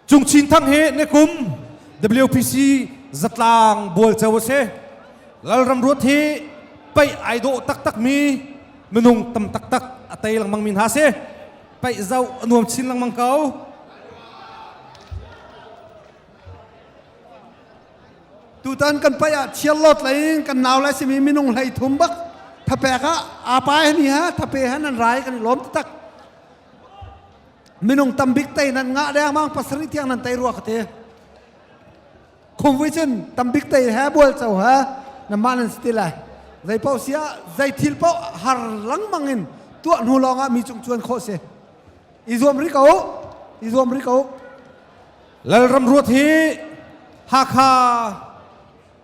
Cung Chin Thang hi nikum WPC zatlang bual ceu a si. Lalram Ruat hi pei ai dawh taktak mi minung tam taktak a tei lengmang mi hna si. Pei zau a nuam chin lengmang ko. tutan kan pai ah chiar lot lei kan nau lai simi minung hlei thum bak thapek ah apa ni ha thape han an rai kan i lom tak minung tambik tei nan ngah dengmang pasarih tiang nan tei rua ka ti khum vui cun tambik tei he bual co ha namah nan si lai zei paoh sia zei thil paoh har langmang in tuah hnu lawngah mi cung chuan khawh si i zuam ri ko i zuam ri ko lalram ruat hi hakha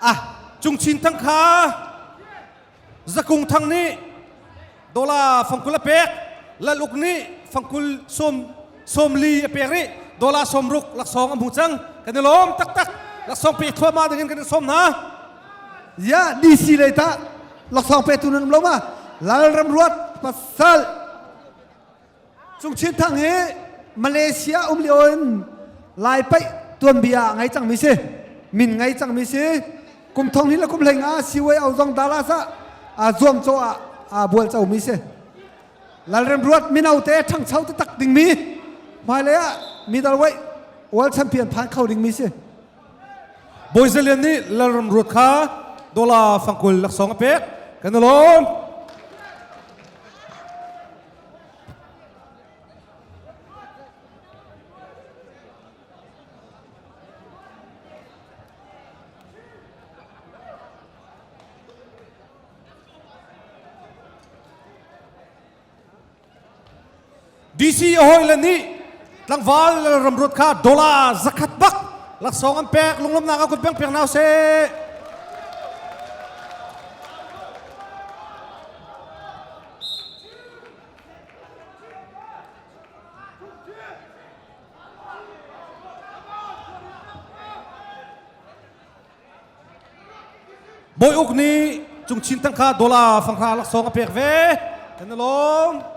ah Cung Chin Thang kha Zakung Thang nih dollar fangkul a pek Lal Uk nih fangkul sawm sawmli a pek rih dollar sawmruk laksawng a hmu cang kan i lawm taktak laksawng pe thluahmah dingin kan i sawm hna ya DC lei tah laksawng petu nan um lo ma Lal Ram Ruat pasal Cung Chin Thang hi Malaysia um lio in Lai paih tuanbia ngai cangmi si min ngai cangmi si kum thong hin le kum hleng ah siwai au zong dala sa zuam caw ah bual comi si lalrem ruat mino te ṭhangcho te tak dingmi hmailei ah middle weight world champion phan kho dingmi si Boy Zalian nih lalrem ruat kha dola fangkul laksong a pek kan alon DC hawile nih tlangval ramruat kha dollar zakhat bak laksawng an pek lunglamnak a kun peng peng nau se Bawi Uk nih Cung Chin tangka dollar fanghra laksawng a pek ve. Kan along.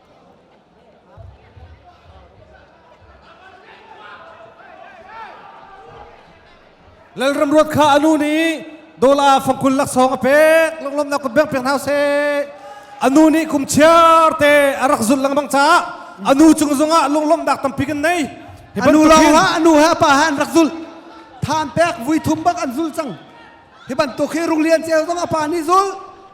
Lalram ruat kha anu nih dola fangkul laksawng a pek lunglom na kun beng pek hna se anu nih kum chiar te a rak zul lang bang ca anu cung zungah lunglom dak tampi kan nei anu lawng ah anu ha pa ha an rak zul than pek vui thum bak an zul cang Hi bantuk hi Rung Lian Ceu zong a pa nih zul,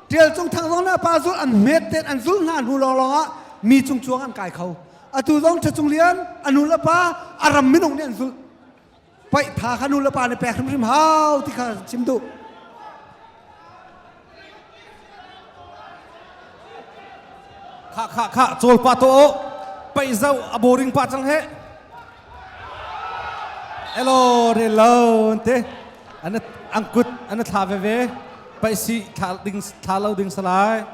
Ṭial Cung Thang zong le a pa zul an hmet ten an zulh hna hnu lawnglawng ah mi cung chuang an kai kho. Atu zong Ṭha Cung Lian a nu le pa a ram minung nih an zulh. Paih tha kha nu le pa nih pek hrimhrim hau ti kha chim duh. Kha kha kha cawl pa to pei zau a boring pa cang he Hello, hello, te. An an kut an thla veve. Paisi thla ding thla lo ding salai.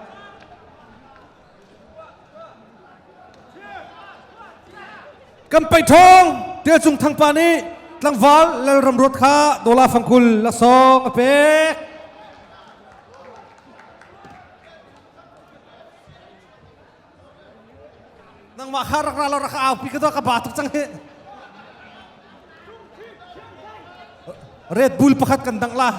Kan pei thong te cung thang pa ni tlangval lal ram rot kha dola fangkul la sok a pek. nangmah kha rak ra law rak aupi ka ka ba tuk cang hi Red Bull pakhat kan dang la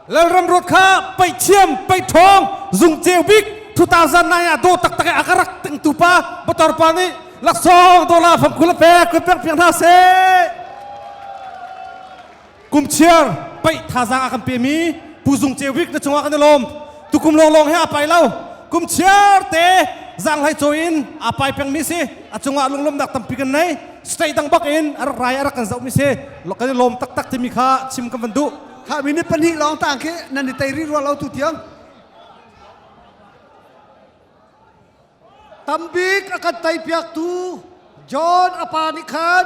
Lalram ruat kha pei thiam pei ṭhawng zung ceu bik 2009 ah daw taktak a ka rak tingtu pa motor pa nih laksawng dola fam kul pe kun pek piang hna se kum chiar pei thazang a kan pe mi pu zung ceu bik na chungah kan i lawm tukum long long he a pai lo kum chiar te zang hlai chaw in a pai peng mi si a chungah lunglom dak tampi kan nei state dang bak in a rak rai a rak kan zoh mi si kan i lawm taktak timi kha chim kan van duh kha mi ni pahnih lawng tang khi nan i tei rih rua lo tu tiang tambik a kan tei piak tu john apa nih khan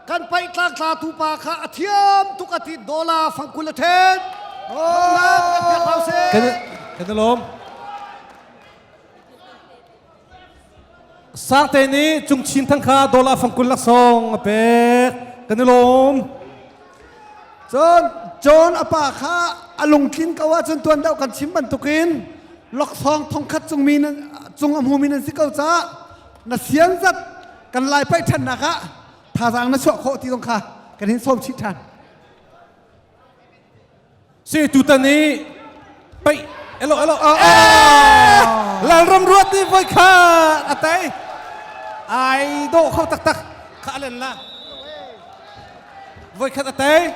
kan paih tlang tla tu pa kha a thiam tuk a ti dollar fangkul a then kan kan lawm Sangte nih Cung Chin Thang kha dollar fangkul laksawng a pek kan i lawm. Cun John a pa kha a lungtlin ko ahcun tuan deuh kan chim bantukin loksawng thongkhat cung, mi nan, cung a hmumi nan si ko cah na sian zat kan lai paih ṭhannak ah thazaang na chuah khawh ti zong kha kan hin sawm chih ṭhan. Se tutan i pei elo elo a Lalram ruat ni voi kha a tai ai do kho taktak kha alen la voi khat a tai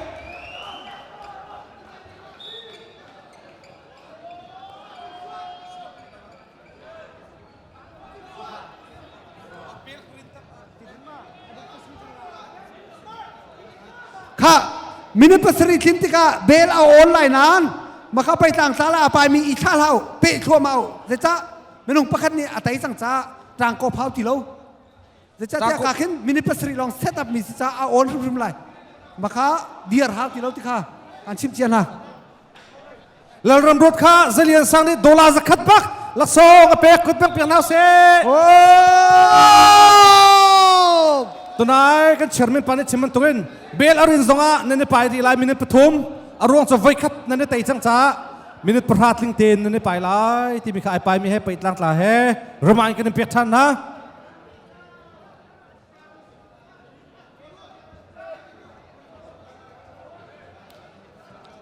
kha minute pasarih tlin tikah bel a awn lai nain maka pei tlang tla la a paimi i thla hlau peh thluamau zeicah minung pakhat nih a tei cang ca tlang ko phau ti lo Zeicahtiah ka khin minute pasarih lawng set up mi si caah a awn hrimhrim lai. Maka dir hau ti lo ti kha an chim cia hna. Lalram ruat kha zalian sang nih dollar zakhat bak laksawng a pek kut pek piak hna se. Tunai kan chairman pa nih chimman tungin bel arin zongah nan pai di lai minute pathum a ruang cu voi khat nan tei cang ca minute pahra tling ten nan pai lai ti mi kha ai pai mi he pei tlang tla he remind kan pek than hna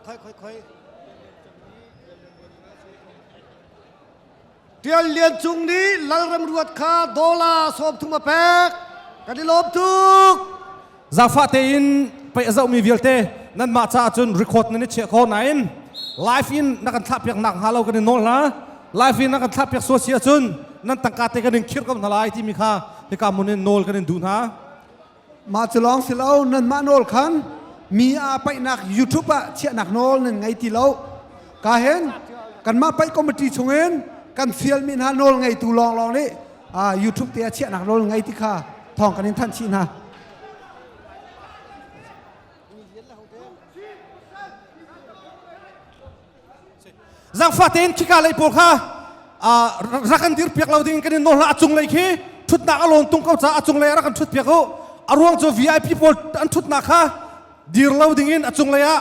Khoi khoi khoi. Tial Lian Cung nih Lalram ruat kha dola sawm thum a pek. Kan i lawm tuk. Zangfah tein pei a zohmi vialte nanmah caah cun record nan i chiah ko nain live in na kan thlahpiak nak hnga lo kan i nawl hna live in na kan thlahpiak sual si ahcun nan tangka te kan in khirh ko hna lai timi kha hika mun in nawl kan in duh hna mah cu lawng si lo nanmah nawl khan mi a paihnak youtube ah chiahnak nawl nan ngei ti lo ka hen kanmah paih committee chungin kan fialmi hna nawl ngeitu lawnglawng nih ah YouTube te a chiahnak rawl ngei ti kha thawng kan in thanh chih hna zangfa tein khika lei pawl kha rak kan dir piak lo ding kan in nawl a cung lei khi thutnak a lawn tung ko ca a cung lei a rak kan thut piak u a ruang cu VIP pawl an thutnak kha dir lo ding in a cung lei ah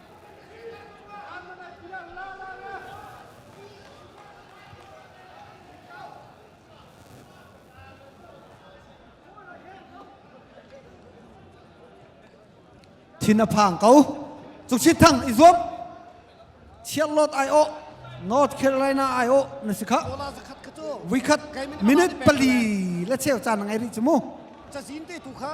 thin a phang ko cuk chit thang i zuam chiarlot ai o North Carolina ai o na si kha vikhat minute pali la cheu chan ngai ri chu mu cazin te tu kha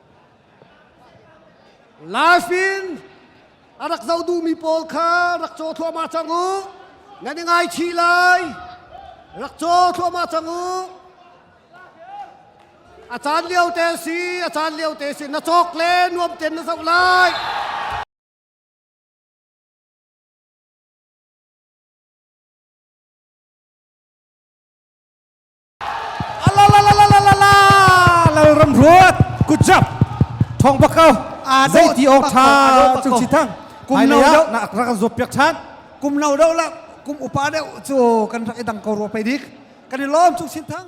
Life in a rak zoh duhmi pawl kha rak caw thluahmah cang u. Nan i ngaichih lai. Rak caw thluahmah cang u. A caan lio te si, a caan lio te si. Na cawk le nuam ten na zoh lai. Lalram ruat good job thong bakau zei ti ok tha chung si thang kum no do na rak kan zop pek chan kum no do la kum upa deu chu kan rak idang ko ro pe dik kan i lom chung sin thang